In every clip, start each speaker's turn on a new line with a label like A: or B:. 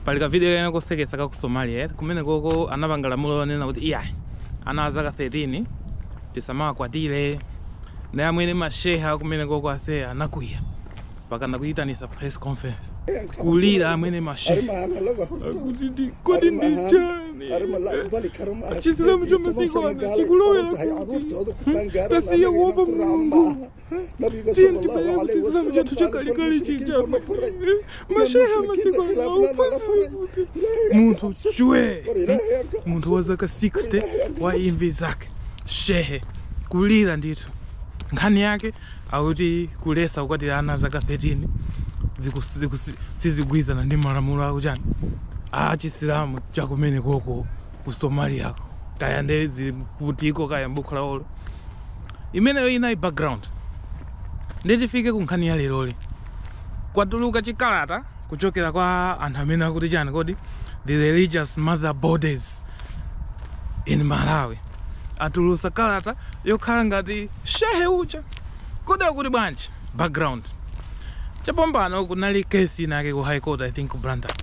A: Pali kavidiyo kenakake kosekesa ka ku Somalia eti kumenekoko anapanga lamulo lonena kuti iya ana a zaka 13 tisamawakwatire nde amwene mashehe kumenekoko ase anakwiya mpaka nakuyitanisa press conference kulira amwene mashehe akuti ndi- kodi ndi chani chisilamu chamasiku ano chikulowera kuti tasiye kuopa mulungu tiyeni tibwerere ku chisilamu chathu chakalekale chija mashehe amasiku ano aphunzire kuti munthu chwe munthu wa zaka 60 waimvi zake shehe kulira ndithu nkhani yake akuti kulesa kukwatira ana a zaka 13 ziku- ziku- sizigwirizana ndi malamulo a ku chani a chisilamu chakumenekoko ku Somaliako kaya nde zikuti ko kaya mbukhu lawolo imeneyo inali background nde tifike ku nkhani ya leroyi kwatuluka chikalata kuchokera kwa anthu amene akuti chani kodi the religious mother bodies in malawi atulusa kalata yokhala ngati shehe uja kodi akuti bwanji background chapombano kunali case inake ku high court i think ku blantyre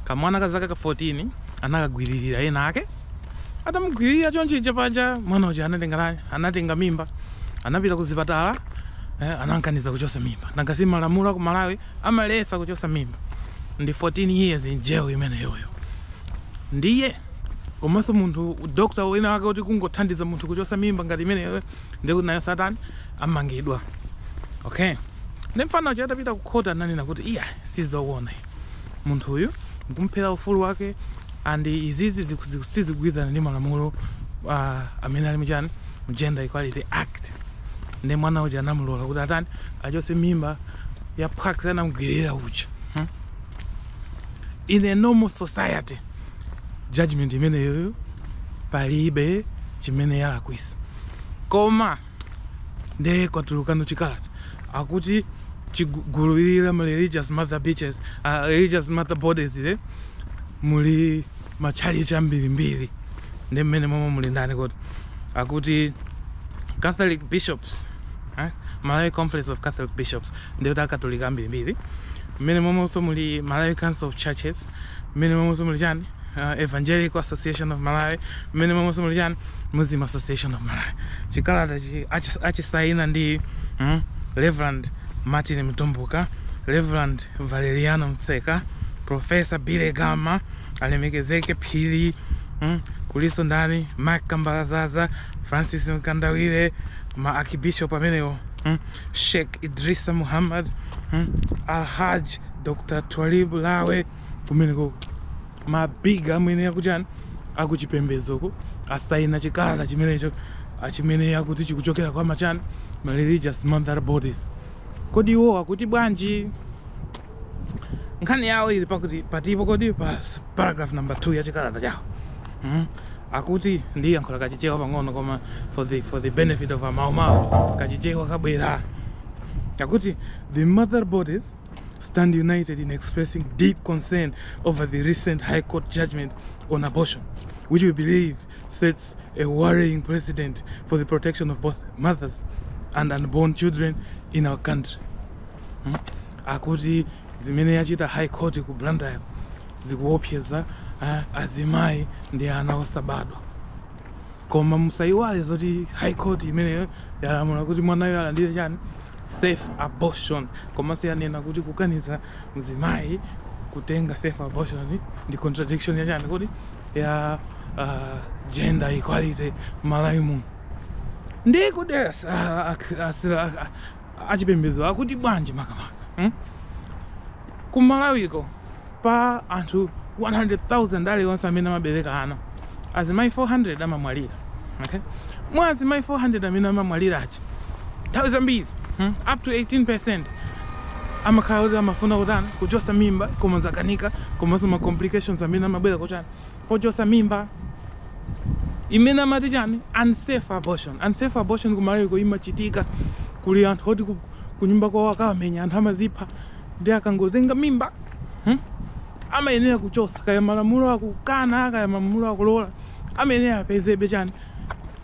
A: kamwana ka zaka ka 14 anakagwiririra ena ake Atamugwiririra choncho paja mwana uja anatenga chani anatenga mimba anapita kuzipatala eh, anankaniza kuchosa mimba nanga si malamulo aku Malawi amalesa kuchosa mimba ndi 14 years in jail imeneyoyo ndiye komanso munthu doctor wina wake kuti kungothandiza munthu kuchosa mimba ngati imeneyoyo ndiye kuti nayo atani amangidwa okay nde mfana uja atapita ku court ananena kuti iya sizowona munthuyu nkumuphera ufulu wake and izizi sizikugwirizana ndi malamulo uh, amene ali mu chani mu Gender Equality Act nde mwana uja anamulola kuti atani achose mimba ya phwaks anamgwiririra uja hmm? in a normal society judgment imeneyoyo palibe chimene yalakwisa koma Nde kwatulukano chikalata akuti chigu- gulu ili la ma religious mother bitches, a religious mother bodies-li muli matchalitchi ambirimbiri nde mmenemomo muli ndani kodi? Akuti Catholic bishops, eh, Malawi Conference of Catholic Bishops ndiye kuti akatolika ambirimbiri mmenemomonso muli Malawi Council of Churches, mmenemomonso muli chani uh, evangelical association of malawi mmenemomonso muli chani muslim association of malawi chikalata chi achi- achisaina ndi mm, reverend martin mtumbuka reverend valeriano mtseka professor billy gama alemekezeke phiri mm, kuliso ndani mark kambalazaza francis mkandawire ma archbishop amenewo mm, sheikh idrisa muhammad mm, alhaj Dr. Twalib Lawe kumeneko ma big amene akuchani akuchipembezoko asaina chikalata chimenecho achimene akuti chikuchokera kwa machani ma religious mother bodies kodi iwo akuti bwanji nkhani yawo ili pakuti patipo kodi pa paragraph number 2 ya chikalata chawo mm? akuti ndi yankho la kachichewa pang'ono koma for the, for the benefit of amawumawu kachichewa kabwera akuti the mother bodies stand united in expressing deep concern over the recent High Court judgment on abortion, which we believe sets a worrying precedent for the protection of both mothers and unborn children in our country. Hmm? Akuti zimene yachita High Court ku Blantyre zikuopseza eh, azimayi ndi ana osabadwa koma musayiwale zoti High Court imeneyo yalamula kuti mwanayu alandire chani safe abortion komanso yanena kuti kukaniza mzimayi kutenga safe abortion ndi contradiction ya chani kodi ya uh, gender equality Malawi muno ndiye kodi as- a- ak- as- a- a- achipembedzo akuti bwanji makamaka hmm? ku Malawiko Pa anthu 100,000 aliwonse amene amabereka ana, azimayi 400 amamwalira, okay? Mwa azimayi 400 amene amamwalira aja, nthawi zambiri hmm, up to 18% amakhala kuti amafuna kutani kuchotsa mimba koma zakanika, komanso ma complications amene amabwera kuchani pochosa mimba imene amati chani unsafe abortion. Unsafe abortion ku Malawiko imachitika kuli anthu oti ku- kunyumba kwawo akawamenya anthu amazipha Nde akangotenga mimba hmm amayenera kuchosa kaya malamulo akukana kaya malamulo akulola amayenera apezabe chani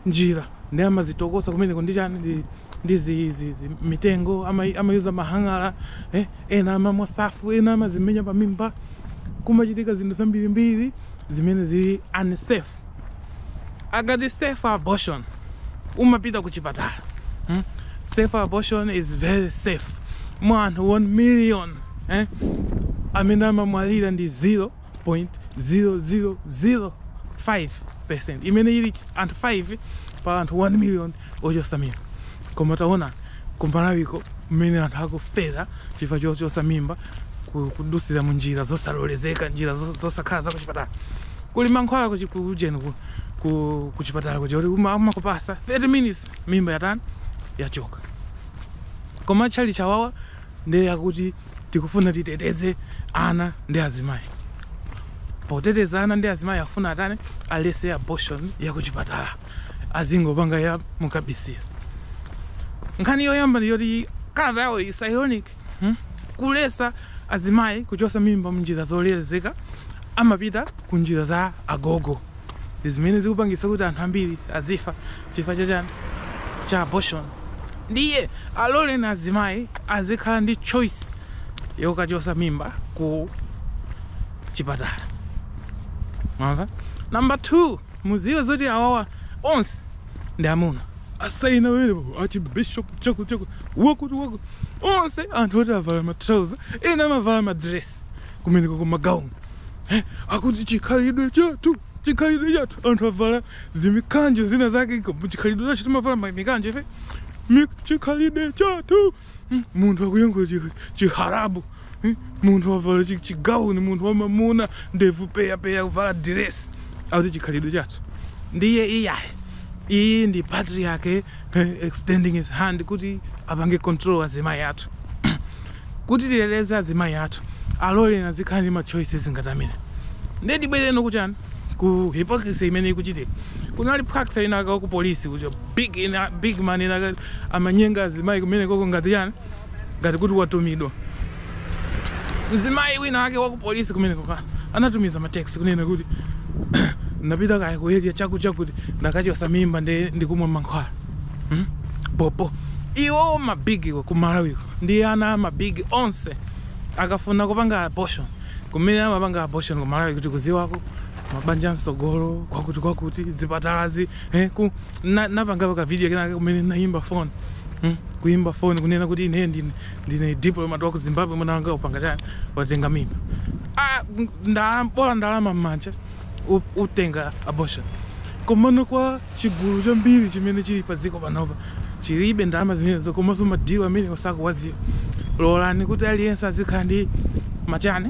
A: njira nde amazitokosa kumeneko ndi chani ndi ndi zi zi zi mitengo ama amayuza mahang'ala eh ena amamwa safu ena amazimenya pamimba kumachitika zinthu zambirimbiri zimene zili unsafe. akati safe abortion umapita kuchipatala hmm? safe abortion is very safe mwa anthu 1 million eh? amene amamwalira ndi 0.0005 percent imene ili anthu 5 pa anthu 1 million ochosa mimba koma taona ku Malawiko mmene anthu akufera chifukwa chochosa mimba kudusira mu njira zosalolezeka njira zosakhala zakuchipatala kuli mankhwala ku ujeni ku ku kuchipatala kuja kuti umakupasa 30 minutes mimba yatani yachoka koma atchalitchi awawa ndiye akuti tikufuna titeteze ana ndi azimayi poteteza ana ndi azimayi akufuna atani alese abortion yakuchipatala Azingopanga ya mukabisila. Nkhani yoyamba ndi yoti kalata yawo is ironic hmm kulesa azimayi kuchosa mimba mnjira zololezeka amapita ku njira za agogo ndi zimene zikupangitsa kuti anthu ambiri azifa chifukwa cha chani cha abortion ndiye aloleni azimai azikhala ndi choice yokachosa mimba ku chipatala mwamva number 2 Mudziwe zoti awawa onse ndi amuna asaina pamenepo archbishop chakuchaku wakuti wakuti onse anthu oti avala ma trouser ena amavala ma dress kumeneko ku magauni eh, akuti chikhalidwe chathu chikhalidwe chathu anthu avala zimikanjo zina zake iko chikhalidwe chathu timavala ma- mikanjo ife Mi- chikhalidwe chathu Hmm? munthu akuyankhula chi- chiharabu Hmm? munthu wavala chi- chigauni munthu wamamuna ndevu peyapeya kuvala diresi akuti chikhalidwe chathu ndiye iyayi iyi ndi patriarchy eh, extending his hand kuti apange control azimayi athu kuti titeteze azimayi athu aloleni azikhala ndi machoices ngati amene ndiye tibwere no kuchani ku hypocrisy imene ikuchitika kunali plaksa inaka ku polisi kuti big, ina, big man inaka amanyenga azimayi kumenekoko ngati chani ngati kuti watumidwa mzimayi wina wake wa ku polisi kumenekoko anatumiza mateksi kunena kuti napita kaya ku area chakuchakuti ndakachosa mimba ndi ndikumwa mankhwala hmm? pomwe iwo mabigiwo ku malawiko ndi ana a mabigi onse akafuna kupanga abortion kumene amapanga abortion ku malawi kuti kuziwako mabanja msogolo kwakuti kwakuti zipatalazi eh, ku Na, napangapo ka video kenaka kumene naimba phone hmm? kuimba phone kunena kuti ine ndine, ndine diplomat wa ku Zimbabwe mwana wanga wapanga chani watenga mimba ah, ndalama bola ndalama mmanja utenga abortion komano kwa chigulu chambiri chimene chili pa dziko panopa chilibe ndalama zimenezo komanso madilu amene osawaziwa lolani kuti aliyense azikhala ndi machani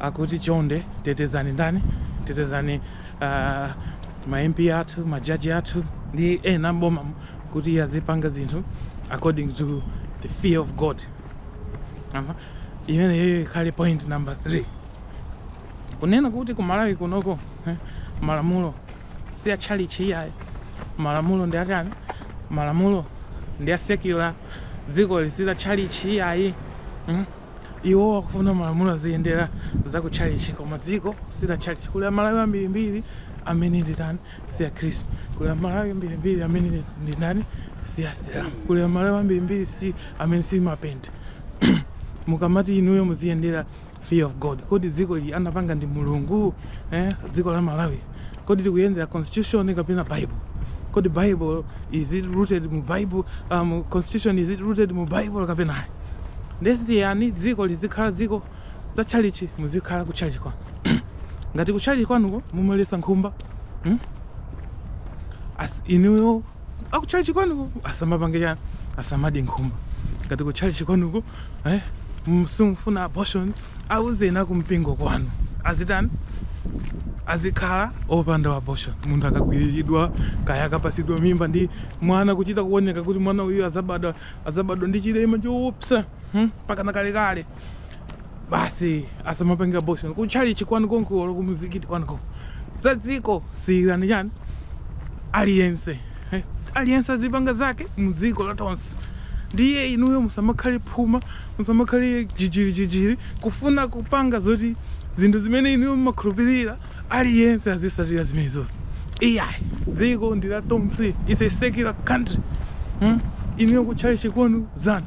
A: Akuti chonde tetezani ndani? Tetezani uh, ma MP athu, ma judge athu ndi ena mboma kuti iye azipanga zinthu according to the fear of God. Ama imeneyo ikhale point number 3. Kunena kuti ku Malawi kunoko eh, malamulo si a tchalitchi iyayi, malamulo ndi atani? Malamulo ndi a secular, dzikoli si la tchalitchi iyayi. Mm? iwo akufuna malamulo aziyendera za ku chalichi koma dziko si la chalichi kuli amalawi ambirimbiri amene ndi otani si akhristu kuli amalawi ambirimbiri amene ndi ndani si asilamu kuli amalawi ambirimbiri si amene si mapente mukamati inuyo muziyendera fear of god kodi dziko ili anapanga ndi mulungu eh? dziko la malawi Kodi tikuyendera constitution kapena Bible? Kodi Bible is it rooted mu Bible? Um, constitution is it rooted mu Bible kapena ayi? Ndiye siyani dziko lizikhala dziko za tchalitchi muzikhala ku tchalitchi kwanu. Ngati ku tchalitchi kwanuko mumaletsa nkhumba. Hmm? As inuyo aku tchalitchi kwanuko asamapange chani asamadye nkhumba. Ngati ku tchalitchi kwanuko eh simufuna abortion Auzeni akumpingo kwanu azitani? Azikhala opanda abortion. Munthu akagwiriridwa kaya akapatsidwa mimba ndi mwana kuchita kuoneka kuti mwana uyu azabadwa azabadwa ndi chilema choopsa hmm? pakana kalekale basi asamapange abortion ku tchalitchi kwanu konko olo kumzikiti kwanuko za dziko siyirani chani aliyense eh, aliyense azipanga zake ndi dziko la tonse ndiye inuyo musamakhale phuma Musamakhale jijirijijiri kufuna kupanga zoti zinthu zimene inuyo mumakhulupirira aliyense azitsatira zimenezo iyayi. Dziko ndi la tonse, its a secular country mm inuyo kutchalitchi kwanu zanu.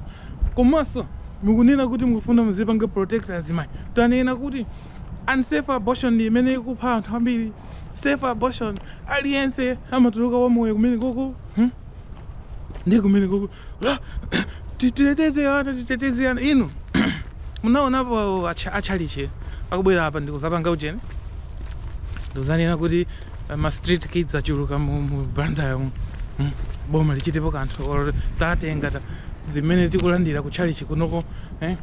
A: Komanso mukunena kuti mukufuna muzipanga protect azimayi, tanena kuti unsafe abortion ndi imene ikupha anthu ambiri? Safe abortion aliyense amatuluka wamoyo kumenekoko? mm. ndi kumene koko ah, titeteze ana titeteze ana inu munaonapo atcha- atchalitchi akubwera apa ndikuzapanga ucheni ndikuzanena kuti eh, ma street kids achuluka mu, mu Blantyre mu Mm, boma lichitepo kanthu or tatenga ta zimene tikulandira ku tchalitchi kunoko eh,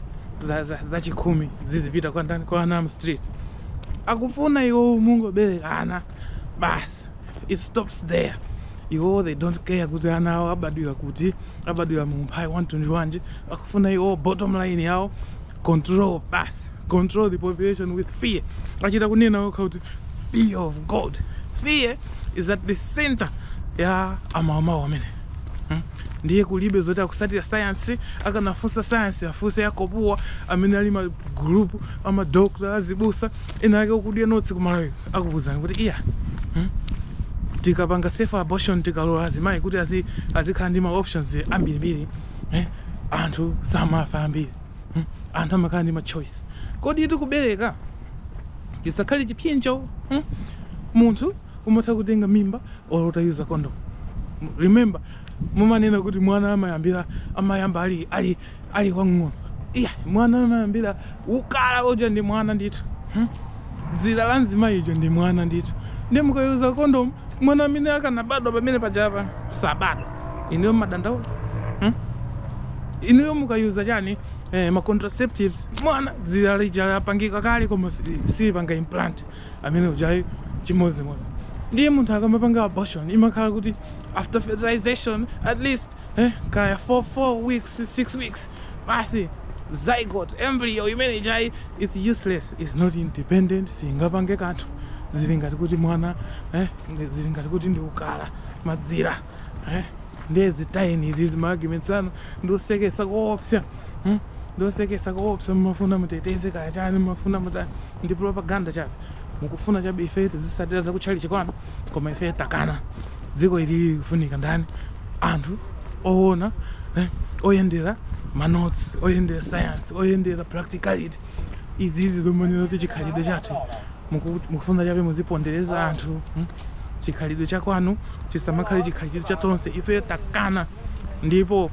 A: za, za, za chakhumi zizipita kwa ndani kwa ana mu streets akufuna iwo muzingobereka ana basi it stops there iwo they don't care kuti ana awo abadwira kuti abadwira mu umphawi wamtundu wanji akufuna iwo bottom line yawo control basi control the population with fear achita kunena okha kuti fear of god fear is at the center ya amawumawu amene Hmm? ndiye kulibe zoti akutsatira sayansi akanafunsa sayansi afunse ya COGUA amene ali ma group amadokta azibusa ena ake aku gynecology ku Malawi akuuzani kuti iya mm tikapanga safe abortion tikalola azimayi kuti azi azikhala ndi ma options ambirimbiri eh, anthu samafa ambiri mm, anthu amakhala ndi ma choice kuti kubereka kusakhale chipsinjo mm? munthu umatha kutenga mimba or uta-user condom remember mumanena kuti mwana amayambira amayamba ali ali ali wang'ono ayi mwana amayambira ukala uja ndi mwana ndithu hmm? dzira la mzimayi uja ndi mwana ndithu ndiye mukayuza kondomu mwana amene akanabadwa pamene pajapa sabadwa inuyo mumadandaula hmm? inuyo mukayuza chani eh, ma contraceptives mwana dzira lija lapangika kale koma silipanga implant amene ujayi chimodzimodzi ndiye munthu akamapanga abortion imakhala kuti after fertilization at least eh, kaya 4 4 weeks 6 weeks basi zygote embryo imene ijayi its useless its not independent singapange kanthu zili ngati kuti mwana eh, ndi- zili ngati kuti ndi ukala madzira eh, ndiye zitayeni izi zima arguments anu ndiosekesa koopsa hmm? ndiosekesa koopsa mmafuna muteteze kaya chani mmafuna mutani ndi propaganda chabe mukufuna chabe ife tizisatira zakutchalichi kwanu koma ife takana dziko ili likufunika ndani anthu owona eh, oyendera manotes oyendera science oyendera practicality izizi zomanena kuti chikhalidwe chathu mukufuna chabe muzipondereza anthu hmm? chikhalidwe cha kwanu chisamakhale chikhalidwe cha tonse ife takana ndipo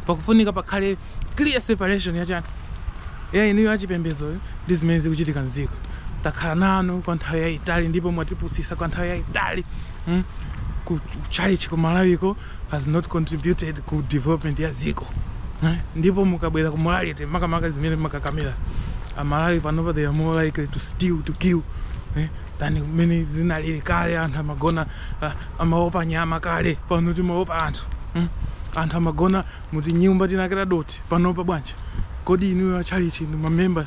A: pakufunika pakhale clear separation ya chani ya inuyo achipembedzoyo ndi zimene zikuchitika mdziko takhala nanu kwa nthawi yayitali ndipo mwatipusitsa kwa nthawi yayitali mm? ku tchalitchi ku malawiko has not contributed ku development ya dziko eh? ndipo mukabwera ku morality makamaka zimene makakamira amalawi panopa they are more likely to steal to kill eh? than mmene zinalili kale anthu amagona ah, amaopa nyama kale pano timaopa anthu mm? anthu amagona mu tinyumba tinake tadothi panopa bwanji? Kodi inuyo a tchalitchi ndi mamemba.